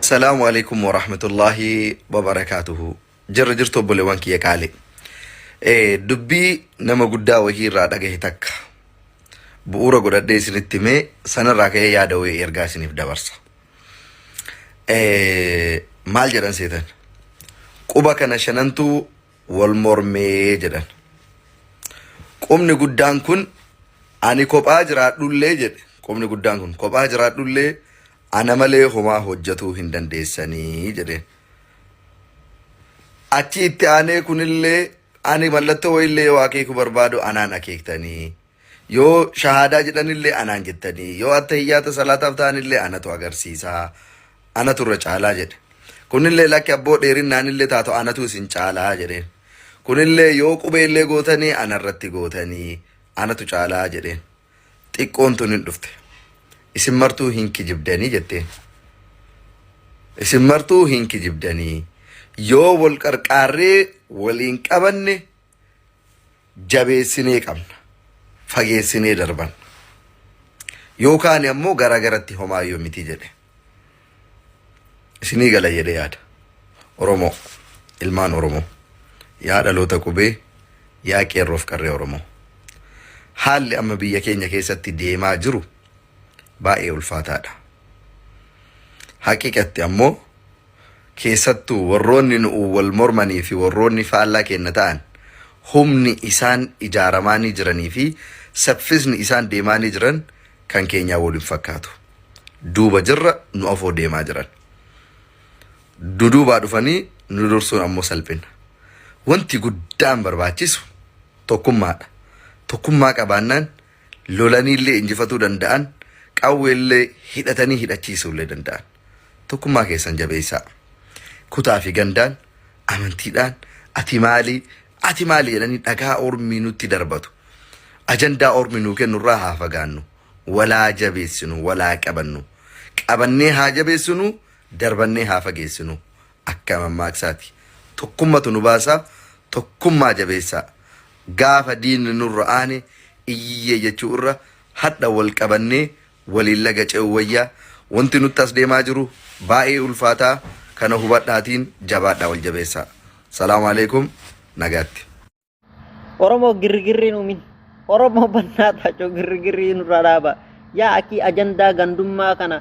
Salaamu alaikum wa rahmatullahi wa barakaatuhu. Jirra jirtu obboleewwan kiyya qaali. Eh, Dubbii nama guddaa wahii irraa dhagahe takka. Bu'uura godhadhee isinitti mee sanarraa ka'ee yaada wahii ergaa isiniif dabarsa. Eh, maal jedhan seetan quba kana shanantu wal mormee jedhan qubni guddaan kun ani kophaa jiraadhullee jedhe qubni guddaan kun kophaa jiraadhullee ana malee homaa hojjetuu hin dandeessanii jedheen achi itti aanee kunillee ani mallattoo wayillee yoo akeeku barbaadu anaan akeektanii Yoo shahaadaa jedhanillee anaan jettanii yoo attahiyyaata salaataaf ta'anillee anatu agarsiisaa anatu irra caalaa jedhe. Kunillee lakki abboo dheerinnaanillee taatu anatu isin caalaa jedheen. Kunillee yoo qubeellee gootanii anarratti gootanii anatu caalaa jedheen. Xiqqoon tun hin dhufte. Isin martuu hin kijibdanii jetteen. Isin martuu hin kijibdanii. Yoo wal qarqaarree waliin qabanne jabeessinee qabna. Fageessinee darban. Yoo kaane ammoo garaa garatti homaa yoo miti jedhe. Isinii gala jedhee yaada. Oromoo, ilmaan Oromoo, yaa dhaloota qubee, yaa qeerroof qarree Oromoo. Haalli amma biyya keenya keessatti deemaa jiru baay'ee ulfaataadha. Haqiqatti ammoo Keessattuu, warroonni nu'uun wal mormanii fi warroonni faallaa keenna ta'an, humni isaan ijaaramaanii jiranii fi saffisni isaan deemaanii jiran kan keenyaa wol hin fakkaatu. Duuba jirra, nu afoo deemaa jiran. Duduubaa dhufanii nu dursuun ammoo salphinna. Wonti guddaan barbaachisu tokkummaa dha. Tokkummaa qabaannaan lolaniillee injifatuu danda'an, qawweellee hidhatanii hidhachiisuullee danda'an. Tokkummaa keessan jabeessaa. Kutaa fi gandaan, amantiidhaan, ati maali, ati maali jedhanii dhagaa ormii nutti darbatu. Ajandaa ormi nuu kennu irraa haa fagaannu. Walaa jabeessinu, walaa qabannu. Qabannee haa jabeessinu, darbannee haa fageessinu. Akka mammaaksaati. Tokkummatu nu baasa, tokkummaa jabeessaa. Gaafa diinni nurra aane iyyiyyee jechuu irra hadha wal qabannee waliin laga ce'uu wayya. Wanti nutti as deemaa jiru baay'ee ulfaataa kana hubadhaatiin jabaadhaa wal jabeessaa. Salaam Aleekum. Nagaatti. Oromoo girrigirri hin uumin. Oromoo bannaa taacoo girrigirri nurraa dhaaba. Yaa akii ajandaa gandummaa kana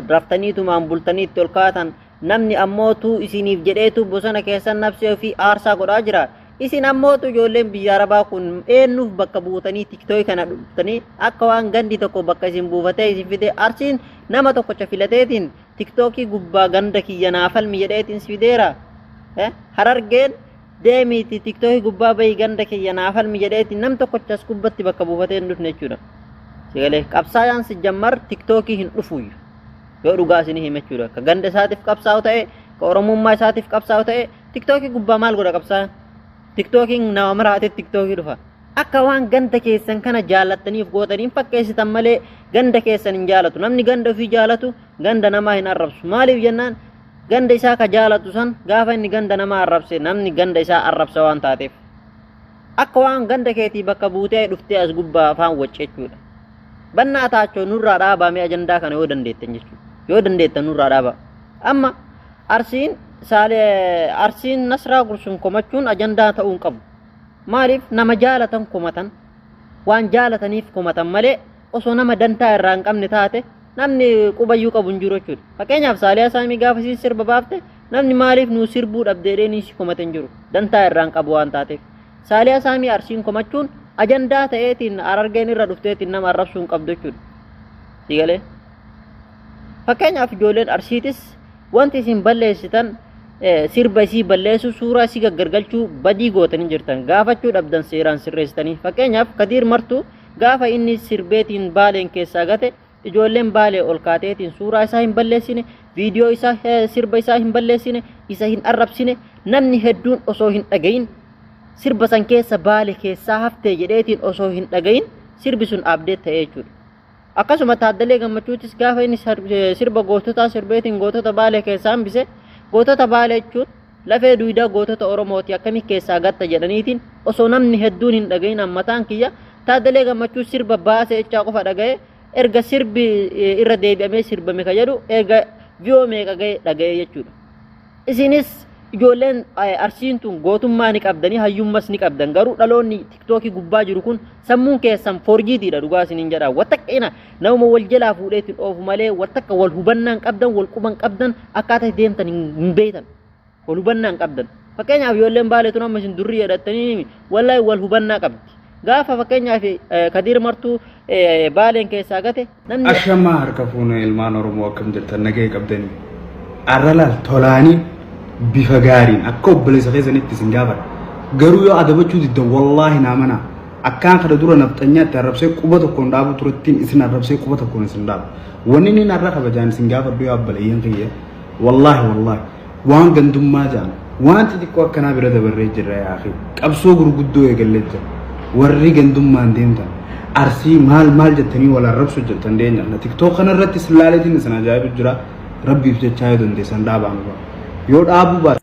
raftaniitumaan bultanii itti ol kaatan namni ammootuu isiniif jedheetu bosona keessan nabsee ofii aarsaa godhaa jira. Isin ammootu ijoolleen biyya arabaa kun eenyuuf bakka buutanii tiktooki kana dhuftanii akka waan gandi tokko bakka isin buufatee isin fidee arsiin nama tokkocha filateetiin tiktookii gubbaa ganda kiyya naafalmi jedheetiin si fideera. Harargeen deemiiti tiktooki gubbaa bahi ganda kiyya naa falmi jedheeti nam tokkochas gubbatti bakka buufatee hin dhufne jechuudha. Sigalee qabsaayaan si jammar tiktookii hin dhufuuyyu. Yoo dhugaa isinii hime jechuudha. Ka ganda isaatiif qabsaa'u ta'e, ka oromummaa isaatiif qabsaa'u ta'e, tiktookii gubbaa maal godha qabsaayaan? Tiktookiin nama maraatee tiktookii dhufa. Akka waan ganda keessan kana jaallattaniif gootaniin fakkeessitan malee ganda keessan hin jaalatu. Namni ganda ofii jaalatu ganda namaa hin arrabsu. Maaliif jennaan ganda isaa ka jaalatu san gaafa inni ganda namaa arrabse namni ganda isaa arrabsa waan taateef akka waan ganda keetii bakka buutee dhuftee as gubbaa afaan wacce jechuudha. Bannaa taachoo nurraa dhaabaamee ajandaa kana yoo dandeettan jechuudha. Yoo dandeettan nurraa dhaabaa. Amma arsiin saalee arsiin nasraa gursuun komachuun ajandaa ta'uu hin qabu. Maaliif nama jaalatan komatan waan jaalataniif komatan malee osoo nama dantaa irraa hin qabne taate namni qubayyuu qabu hin jiru jechuudha. Fakkeenyaaf Saaliyaa Saamii gaafa isiin sirba baafte namni maaliif nuu sirbuu dhabde jedhee ni si komate hin jiru. Dantaa irraa hin qabu waan taateef. Saaliyaa Saamii arsiin komachuun ajandaa ta'eetiin arargeen irra dhufteetiin nama arrabsuu hin qabdu jechuudha. Si galee? Fakkeenyaaf ijoolleen arsiitis wanti isin balleessitan eh, sirba isii balleessuu suuraa isii gaggargalchuu badii gootanii jirtan gaafachuu dhabdan seeraan sirreessitanii fakkeenyaaf kadiir martuu Gaafa inni sirbeetiin Baaleen keessaa gate ijoolleen Baalee ol kaateetiin suuraa isaa hin balleessine, viidiyoo isaa eh, sirba isaa hin balleessine, isa hin arrabsine, namni hedduun osoo hin dhagayin sirba san keessa Baale keessaa haftee jedheetiin osoo hin dhagayin sirbi sun abdeet ta'ee jechuudha. Akkasuma Taaddalee Gammachuutis gaafa inni sar- eh, sirba goototaa sirbeetiin gootota Baalee keessaa hambise gootota Baalee jechuun Lafee duydaa gootota Oromooti akkamitti keessaa gatta jedhaniitiin osoo namni hedduun hin dhagahin ammataan kiyya Taaddalee Gammachuu sirba baase jechaa qofa dhaga'ee erga sirbi irra deebi'amee sirbame ka jedhu erga viyoo meeqa ga'e dhaga'ee jechuudha. Isinis ijoolleen arsiin tun gootummaa ni qabdanii hayyummas ni qabdan garuu dhaloonni tiktookii gubbaa jiru kun sammuun keessan forjiitiidha dhugaa isiniin jedha wattaqqina Namuma wal jalaa fuudhee ittiin oofu malee wal takka wal hubannaa hin qabdan, wal quba hin qabdan, akkaataa itti deemtan hin hin beektan. Wal hubannaa hin qabdan. Fakkeenyaaf ijoolleen baalee tun amma isin durri jedhattanii himi. Wallaahi wal hubannaa qabdi. Gaafa fakkeenyaaf eh, Kadiir Martuu eh, baaleen keessaa gate namni Ashamaa harka fuunee ilmaan Oromoo akkam jirtan nagahee qabdanii. Arra laal tolaanii bifa gaariin akka obboleessa keessanitti isin gaafadha. Garuu yoo adabachuu diddan wallaahi naa mana Akkaan kana dura nafxanyaa itti arrabsee quba tokkoon dhaabuu turettiin isin arrabsee quba tokkoon isin dhaabu. Wanni inni narra kabajaan isin gaafadhu yaa obboleeyyan kiyya. Wallaahi wallaahi waan gandummaa ja'an waan xixiqqoo akkanaa bira dabarree jirra yaa akhi. Qabsoo gurguddoo eegallee jira. Warri gandummaan deemtan arsii maal maal jettanii wal arrabsu jettan deenya. Na tiktook kana irratti isin laaleetiin isin ajaa'ibu jira. Rabbiif jechaa yoo dandeessan dhaabaan yoo dhaabuu baatan.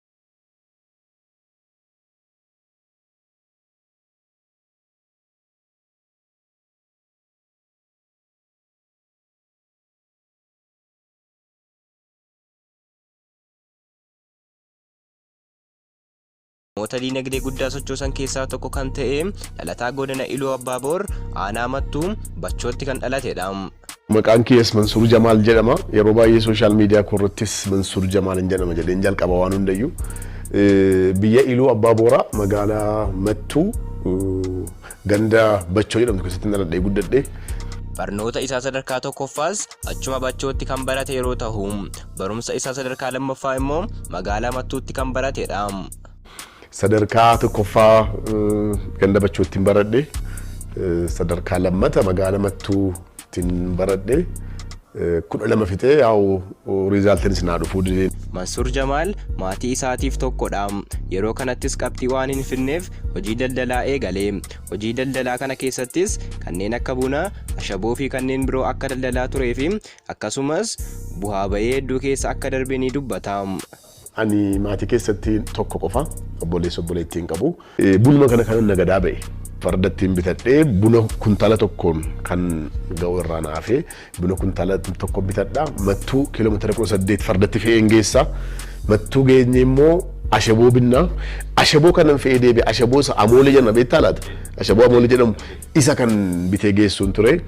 Namoota diinagdee guddaa sochoosan keessaa tokko kan ta'e dhalataa godina Iluu Abbaaboor aanaa Mattuu Bachootti kan dhalatedha. Maqaan kiyyas Mansuur Jamaal jedhama. Yeroo baay'ee social media koo irrattis Mansuur Jamaalin jedhama jedheen jalqaba waan hundayyu. Biyya Iluu Abbaa Booraa magaalaa Mattuu ganda Bachoo jedhamtu keessatti dhaladhee guddadhe. Barnoota isaa sadarkaa tokkoffaas achuma Bachootti kan barate yeroo tahu, barumsa isaa sadarkaa lammaffaa immoo magaalaa Mattuutti kan baratedha. Sadarkaa tokkoffaa ganda bachoottin baradhe. Sadarkaa lammata magaala mattuuttin baradhe. Kudha lama fixee yaa'u riizaaltiin isin haa dhufuu didee. Mansuur Jamaal maatii isaatiif tokkodha. Yeroo kanattis qabxii waan hin fidneef hojii daldalaa eegale. Hojii daldalaa kana keessattis kanneen akka buna, ashaboo fi kanneen biroo akka daldalaa turee fi akkasumas buhaa ba'ii hedduu keessa akka darbe ni dubbata. Ani maatii keessatti tokko qofa. Obboleessa obboleettii hin qabu. Bunuma kana kanan nagadaa ba'e. Farda ittiin bitadhee buna kuntaala tokkoon kan ga'u irraa na hafee buna kuntaala tokko bitadha. Mattuu kiiloomeetira kudha saddeet fardatti fe'een geessa. Mattuu geenye immoo ashaboo binnaa. Ashaboo kanan fe'ee deebi'e ashaboo isa amoolee jenna beektaa laata? Ashaboo amoolee jedhamu Isa kan bitee geessuun ture.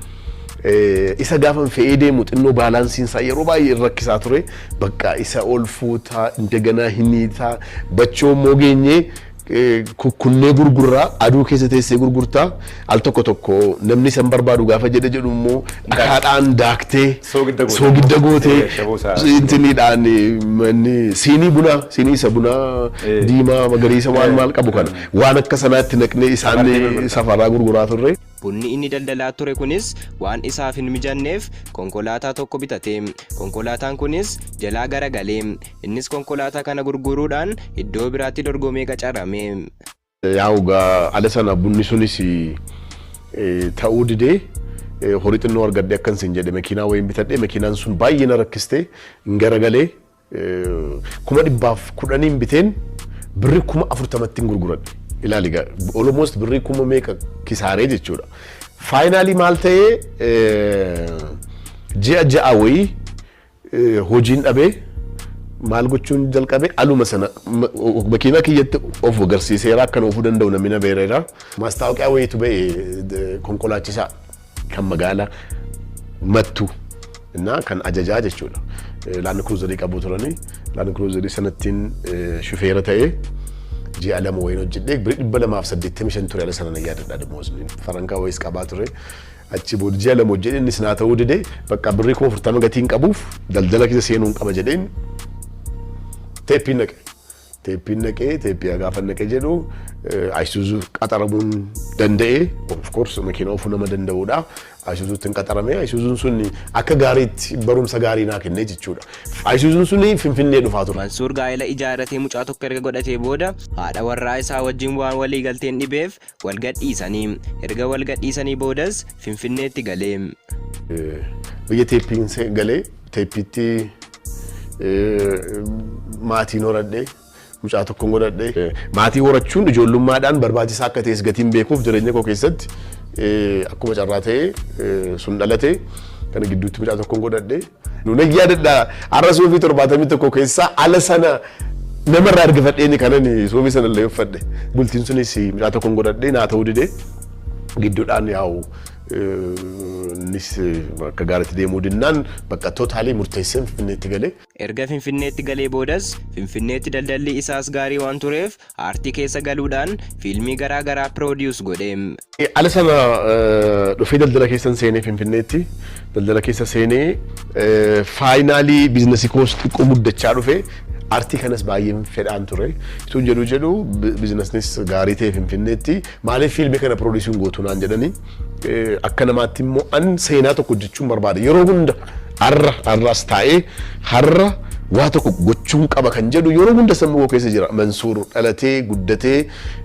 Isa gaafan fe'ee deemu xinnoo baalaansiin isaa yeroo baay'ee hin rakkisaa ture. Bakka isa ol fuutaa, indaganaa hin hiitaa, bachoo immoo geenyee kukkunnee gurgurraa, aduu keessa teessee gurgurtaa, al tokko tokko namni isa hin barbaadu gaafa jedhe jedhu immoo dhakaadhaan daaktee, soogidda gootee, intiniidhaan siinii bunaa, siinii isa bunaa diimaa magariisa waan maal qabu kana. Waan akka sanaatti naqnee isaan safaraa gurguraa turre. Bunni inni daldalaa ture kunis waan isaaf hin mijanneef konkolaataa tokko bitate. Konkolaataan kunis jalaa garagale. Innis konkolaataa kana gurguruudhaan iddoo biraatti dorgomee qacarame. Yaa'u gaa ala sana bunni sunis ta'uu didee horii xinnoo argadhee akkan sin jedhe makiinaa wayiin bitadhe. Makiinaan sun baay'ee na rakkiste. Hin garagalee kuma dhibbaaf kudhaniin biteen birri kuma afurtamattiin gurguradhe. Ilaali gaa almost birri kuma meeqa kisaaree jechuudha. Faayinaalii maal ta'ee ji'a ja'a wayii hojiin dhabee maal gochuun jalqabe aluma sana makiinaa kiyyatti of agarsiiseera akkan oofuu danda'u namni na beereera. Maastaawoqiyaa wayiitu ba'e konkolaachisaa. kan magaala mattu innaa kan ajajaa jechuudha. Laand Kiruuzarii qabu turani. Laand Kiruuzarii sanattiin shufeera ta'ee ji'a lama wayiin hojjedhee biri dhibba lamaaf saddeettamii shan ture ala sana na yaadadha damoosni. Farankaa wayiis qabaa ture. Achi booda ji'a lama hojjedhee innis naa ta'uu didee bakka birrii kuma afurtama gatiin qabuuf daldala keessa seenuun qaba jedheen teeppiin naqe. Teeppiin naqee teeppiyaa gaafan naqe jedhu Ayisuuzuuf qaxaramuun danda'e of course makiina ofuu nama danda'udha. Ayisuuzuutti hin qaxarame Ayisuuzuun sun akka gaariitti barumsa gaarii naa kenne jechuudha. Ayisuuzuun sun Finfinnee dhufaa ture. Mansuur gaa'ela ijaarratee mucaa tokko erga godhatee booda haadha warraa isaa wajjin waan walii galteen dhibeef Wal gadhiisani. Erga wal gadhiisanii boodas Finfinneetti gale. Biyya teeppiin se- galee teeppiitti maatiin horadhe mucaa tokkon godhadhe. Maatii horachuun ijoollummaadhaan barbaachisaa akka ta'es gatiin beekuuf jireenya koo keessatti eh, akkuma carraa ta'e eh, sun dhalate kana gidduutti mucaa tokkon godhadhe. Nunan yaadadha har'a suufii torbaatamii tokko keessaa ala sana nama irraa argifadheeni kanan suufii sana illee uffadhe. Bultiin sunis mucaa tokkon godhadhee naa ta'uu didee gidduudhaan yaa'u innis akka gaariitti deemuu dinnaan bakka tootaalii murteesseen finfinneetti galee. Erga Finfinneetti galee boodas Finfinneetti daldalli isaas gaarii waan tureef Aartii keessa galuudhaan fiilmii garaa garaa produce godhe. Ala sana dhufee daldala keessan seenee Finfinneetti daldala keessa seenee finally business koos xiqqoo guddachaa dhufe. Aartii kanas baay'een fedhaan ture. Utuun jedhuu jedhuu businessnis gaarii ta'e Finfinneetti Maaliif fiilmii kana piroodiisii hin gootu naan jedhanii akka namaatti immoo an seenaa tokko hojjechuun barbaada. Yeroo hunda har'a har'as taa'ee har'a waa tokko gochuun qaba kan jedhu yeroo hunda sammuu koo keessa jira. Mansuur dhalatee guddatee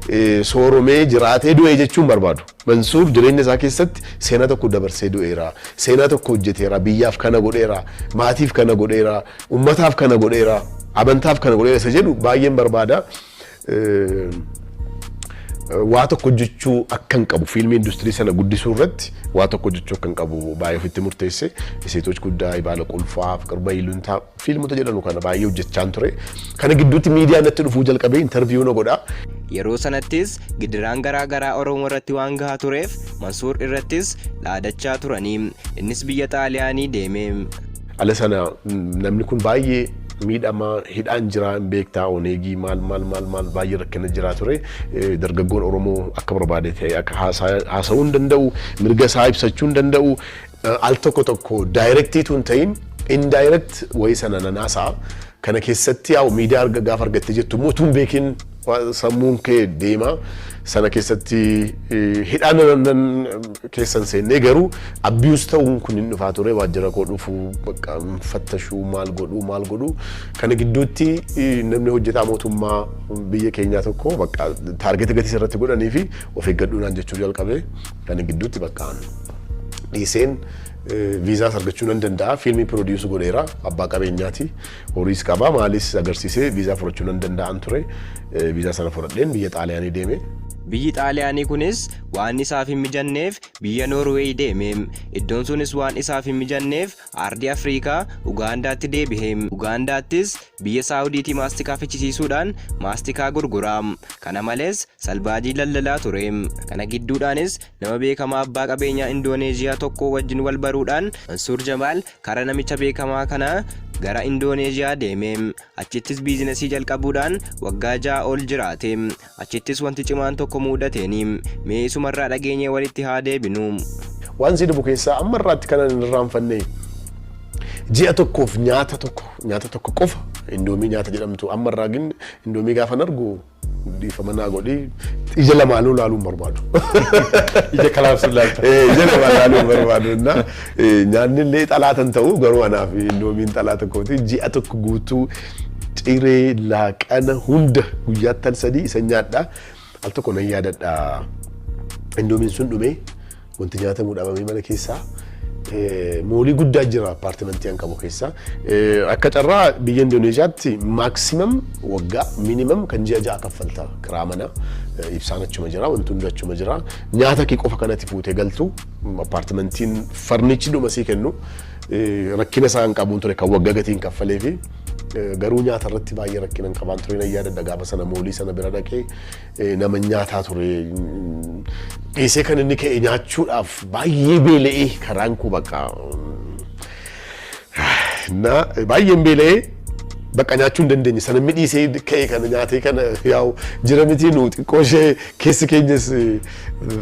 eh, sooromee jiraatee du'ee jechuun barbaadu. Mansuur jireenya isaa keessatti seenaa tokko dabarsee du'eera. Seenaa tokko hojjeteera. Biyyaaf kana godheera. Maatiif kana godheera. Ummataaf kana godheera. Amantaaf kana godheera isa jedhu baay'een barbaada. waa tokko hojjechuu akkan qabu fiilmii industirii sana guddisuu irratti waa tokko hojjechuu akkan qabu baay'ee ofitti murteesse iseetoch guddaa ibaala qulfaa qirba iluntaa fiilmota jedhamu kana baay'ee hojjechaan ture kana gidduutti miidiyaa natti dhufuu jalqabee intarviyuu na godhaa Yeroo sanattis gidiraan garaa garaa Oromoo irratti waan gahaa tureef Mansuur irrattis dhaadachaa turanii innis biyya Xaaliyaanii deeme. Ala sana namni kun baay'ee miidhama hidhaan jiraa hin beektaa oneegii maal maal maal maal baay'ee rakkina jiraa ture dargaggoon Oromoo akka barbaade ta'e akka haasa'uu hin danda'u mirga isaa ibsachuu hin danda'u al tokko tokko daayirektiitu hin ta'in indaayirekti wayii sana nan haasa'a kana keessatti yaa miidiyaa gaafa argattee jettu immoo utuu hin beekin Waan sammuun kee deema sana keessatti hidhaan nan keessan seennee garuu abuse ta'uun kun hin dhufaa ture waajjira koo dhufuu bakka fattashuu maal godhuu maal godhuu kana gidduutti namni hojjetaa mootummaa biyya keenyaa tokko bakka taargeta gatii irratti godhanii fi of eeggadhuu naan jechuu jalqabe kana gidduutti bakka dhiiseen viizaas argachuu nan danda'a fiilmii piroodiisu godheera abbaa qabeenyaati Horiis qaba maalis agarsiisee viizaa fudhachuu nan danda'an ture. Viizaa sana fudhadheen biyya Xaaliyaanii deeme. Biyyi Xaaliyaanii kunis waan isaaf hin mijanneef biyya Noorweey deeme. Iddoon sunis waan isaaf hin mijanneef aardii Afriikaa Ugaandaatti deebihe. Ugaandaattis biyya Saawudiitii maastikaa fichisiisuudhaan maastikaa gurgura. Kana malees salbaajii daldalaa ture. Kana gidduudhaanis nama beekamaa abbaa qabeenyaa Indooneezhiyaa tokkoo wajjin wal baruudhaan Mansuur Jamaal Karaa namicha beekamaa kanaa gara Indooneezhiyaa deeme. Achittis biizinasii jalqabuudhaan waggaa ja'a ol jiraate. Achittis wanti cimaan tokko muudateeni. Mee isumarraa dhageenyee walitti haa deebinu. Waan si dhibu keessaa amma irraatti kanan hin irraanfanne ji'a tokkoof nyaata tokko nyaata tokko qofa indoomii nyaata jedhamtu amma irraa gin indoomii gaafan argu Dhiifama naa godhi ija lamaanuu laaluu hin barbaadu. Ija kalaabsuun laalta. Eh, Ija lamaan laaluu hin barbaadu. Inna, eh, Nyaanni illee xalaata hin ta'u garuu anaaf indoomiin xalaata kooti ji'a tokko guutuu ciree laaqana hunda guyyaattan sadii isa nyaadha. Al tokko nan yaadadha. Indoomiin sun dhumee Wanti nyaatamu dhabamee mana keessaa moolii guddaa jira appaartimentii an qabu keessaa. Akka carraa biyya Indooneezhiyaatti maaksiimam waggaa miinimam kan ji'a ja'a kaffalta kiraa mana ibsaan achuma jira wanti hundi achuma jira nyaata kee qofa kanatti fuutee galtu appaartimentiin farnichi dhuma sii kennu rakkina isaa hin qabuun ture kan waggaa gatiin kaffalee fi garuu nyaata irratti baay'ee rakkina hin qabaan ture na yaadadha gaafa sana moolii sana bira dhaqee nama nyaataa ture. Dhiisee kan inni ka'e nyaachuudhaaf baay'ee beela'ee karaan koo bakka na baay'een beela'ee bakka nyaachuu hin dandeenye sana inni dhiisee ka'e kana nyaatee kana yaa'u jira miti nu xiqqoo ishee keessi keenyas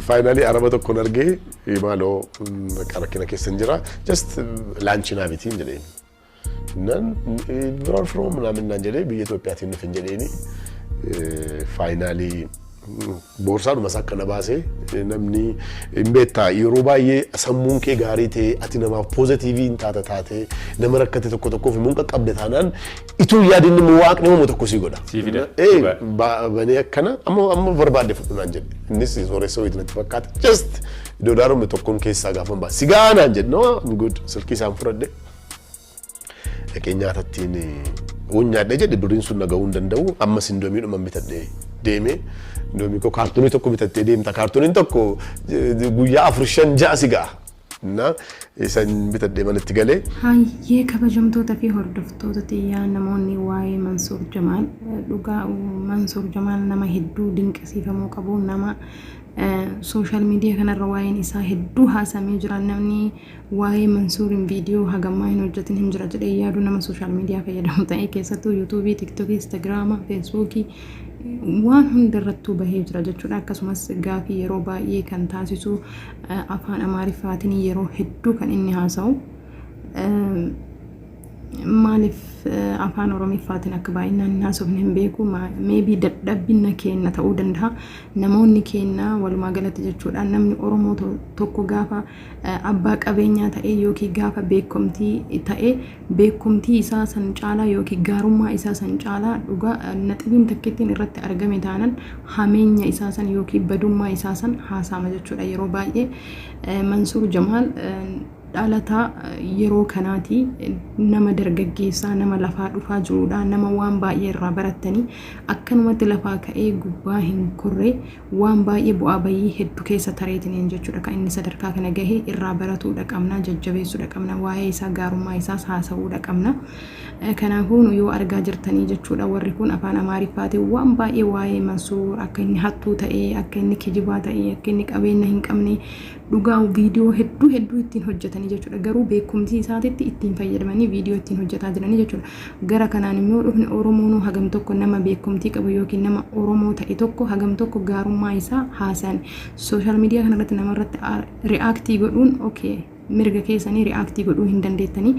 faayinaalii araba tokkoon argee maaloo bakka rakkina keessa hin jira just laanchii naa miti hin jedheen. Nan where from ምናምን naan jedhee biyya Itoophiyaatiin nuuf hin jedheeni faayinaalii boorsaadhuma isaa akkana baasee namni hin beektaa yeroo baay'ee sammuun kee gaarii ta'e ati namaaf poozitiivii hin taata taate nama rakkate tokko tokkoof immoo qaqqabde taanaan ituu yaadin immoo waaqni uumu tokko sii godha. Sii fida. Ee Dhugaa. ba- banee akkana amma amma barbaadde fudhu naan jedhe innis sooressa wayitu natti fakkaata just doolaaruma tokkoon keessaa gaafan baase sigaa naan jedhe no I'm good silkii isaan fudhadhe dhaqee nyaata ittiin uun nyaadhe jedhe birriin sun naga'uu hin danda'u ammas indoomii dhuman bitadhe deeme indoomii koo kaartoonii tokko bitattee deemta kaartooniin tokko eh, guyyaa afur shan ja'a si ga'a na isan bitadhee manatti galee Hayyee kabajamtoota fi hordoftoota tiyyaa namoonni waa'ee Mansuur Jamaal eh, dhugaa uh, Mansuur Jamaal nama hedduu dinqisiifamuu qabu nama sooshaal miidiyaa kanarra waa'een isaa hedduu haasamee jira namni Waa'ee Mansuurin viidiyoo hagammaa hin hojjatin hin jira jedhee yaadu nama sooshaal miidiyaa fayyadamu ta'ee keessattuu yuutuubii, tiktokii, instagiraama, feesbuukii waan hundarrattuu bahee jira jechuudha. Akkasumas gaafii yeroo baay'ee kan taasisu afaan Amaariffaatiin yeroo hedduu kan inni haasa'u maaliif afaan Oromiffaatiin akka baay'inaan hin haasofne hin beeku. Meebii dadhabbina keenna ta'uu danda'a. Namoonni keenna walumaa galatti jechuudha namni Oromoo tokko gaafa abbaa qabeenyaa ta'ee yookiin gaafa beekkomtii ta'ee beekkomtii isaa san caalaa yookiin gaarummaa isaa san caalaa dhugaa naxibiin takkittiin irratti argame taanan hameenya isaa san yookiin badummaa isaa san haasaama jechuudha yeroo baay'ee Mansuur Jamaal dhalataa yeroo kanaati nama dargaggeessaa nama lafaa dhufaa jirudha nama waan baay'ee irraa barattanii akkanumatti lafaa ka'ee gubbaa hin korree waan baay'ee bu'aa bayii heddu keessa tareetiniin jechuudha kan inni sadarkaa kana gahe irraa baratuudha qabna jajjabeessuudha qabna waa'ee isaa gaarummaa isaas haasa'uudha qabna kanaafuu nu yoo argaa jirtanii jechuudha warri kun afaan amaariffaatiin waan baay'ee waa'ee mansuur akka inni hattuu ta'ee akka inni kijibaa ta'ee akka inni qabeenya hin qabne Dhugaa video hedduu hedduu ittiin hojjetanii jechuudha. Garuu beekumsii isaatitti ittiin fayyadamanii video ittiin hojjetaa jiranii jechuudha. Gara kanaan immoo dhufne Oromoonuu hagam tokko nama beekumtii qabu yookiin nama Oromoo ta'e tokko hagam tokko gaarummaa isaa haasayan. Social media kanarratti namarratti react godhuun okay mirga keessanii react godhuu hin dandeettanii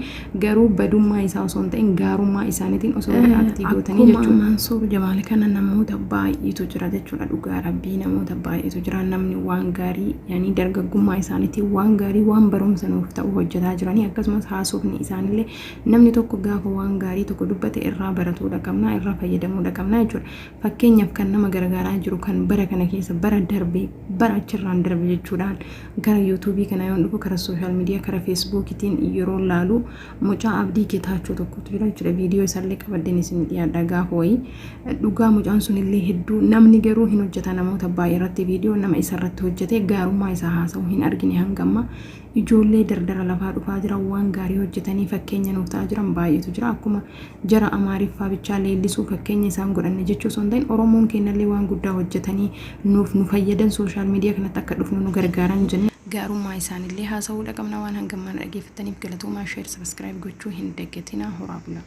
Garuu badummaa isaa osoo hin ta'in gaarummaa isaaniitiin osoo react gootanii Akkuma jechuudha. Mansuur Jamaal kana namoota baay'eetu jira jechuudha dhugaa rabbii namoota baay'eetu jira namni waan gaarii yani dargaggummaa isaaniitiin waan gaarii waan barumsa nuuf ta'u hojjetaa jiranii akkasumas haasofni isaanillee namni tokko gaafa waan gaarii tokko dubbate irraa baratuudha qabna irraa fayyadamuudha qabna jechuudha. Fakkeenyaaf kan nama gargaaraa jiru kan bara kana keessa bara darbe bara achirraan darbe jechuudhaan gara yuutuubii kana yoon dhufu kara sooshaal miidiyaa kara feesbuukitiin yeroo laalu mucaa abdii getaachoo tokkotu jira jechuudha viidiyoo isaallee qabaddeen isin dhiyaadha gaafa wayii dhugaa mucaan sunillee hedduu namni garuu hin hojjeta namoota baay'ee irratti viidiyoo nama isarratti hojjete gaarummaa isaa haasa'u hin argine hangamma Ijoollee dardara lafaa dhufaa jiran waan gaarii hojjetanii fakkeenya nuuf ta'aa jiran baay'eetu jira. Akkuma jara Amaariffaa bichaa leellisuu fakkeenya isaan godhanne jechuu osoo hin ta'in Oromoon keennallee waan guddaa hojjetanii nuuf nu fayyadan social media kanatti akka dhufnu nu gargaaran jennee gaarummaa isaanillee haasa'uudha qabna. Waan hanga ammaa na dhageeffattaniif galatoomaa share subscribe gochuu hin dagatinaa horaa bulaa.